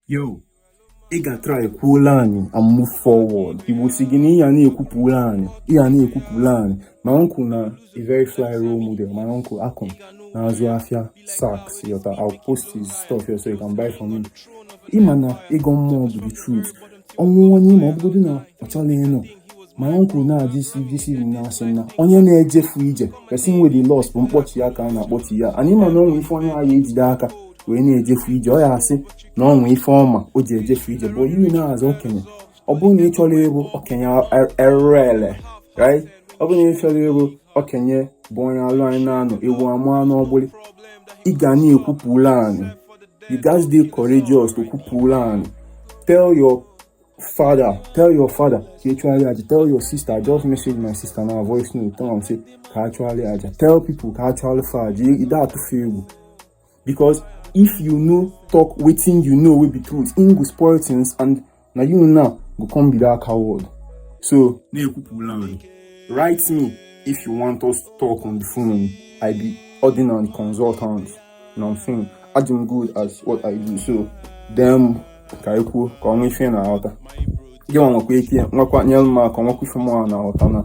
yo ị ga-atry kwuola anyị and move forward igbo sị gị na ị ya na-ekwupụla anyị ị ya na-ekwupụla anyị my uncle na a very fly role model my uncle akụm na-azụ afịa sax yọta I'll post his stuff here so you can buy from him ịma na ịgọ mmụọ bụ the truth o nwee onye ma ọ bụgodị na ọ chọla ịnụ my uncle na-ajụsi ijisi na-asị na onye na-ejefu ije person wey dey lost bụ mkpọchi ya ka a na-akpọchi ya anyị ma na o nwe ife onye a ya ejide aka wee na-ejefu ije ọ ya asị na o nwee ife ọma o ji ejefu ije bụ ihe na-azụ okenye ọ bụrụ na ị chọrọ ịbụ okenye erere right ọ bụrụ na ị chọrọ ịbụ okenye bụ onye arọ anọ n'ụnọ ewu amụa n'ọgbụlị ị ga na-ekwupụla anyị you guys dey courageous to kwupụla anyị tell your father tell your father ka ị chụgharị aja tell your sister I just message my sister now voice note tell am say ka a chụgharị aja tell people ka a chụgharị fa aja ị da atụ fa egwu because if you no talk wetin you know wey be truth im go spoil things and na you now go come be that coward so na-ekwupụla m write me if you want us to talk on the phone i be ordinary consultant you know what i'm saying i do good as what i do so dem ka anyị kwuo ka ọnwa ife na-aghọta gị nwa nwekwa ike nwekwa nyere m aka nwekwa ife mụ na-aghọta na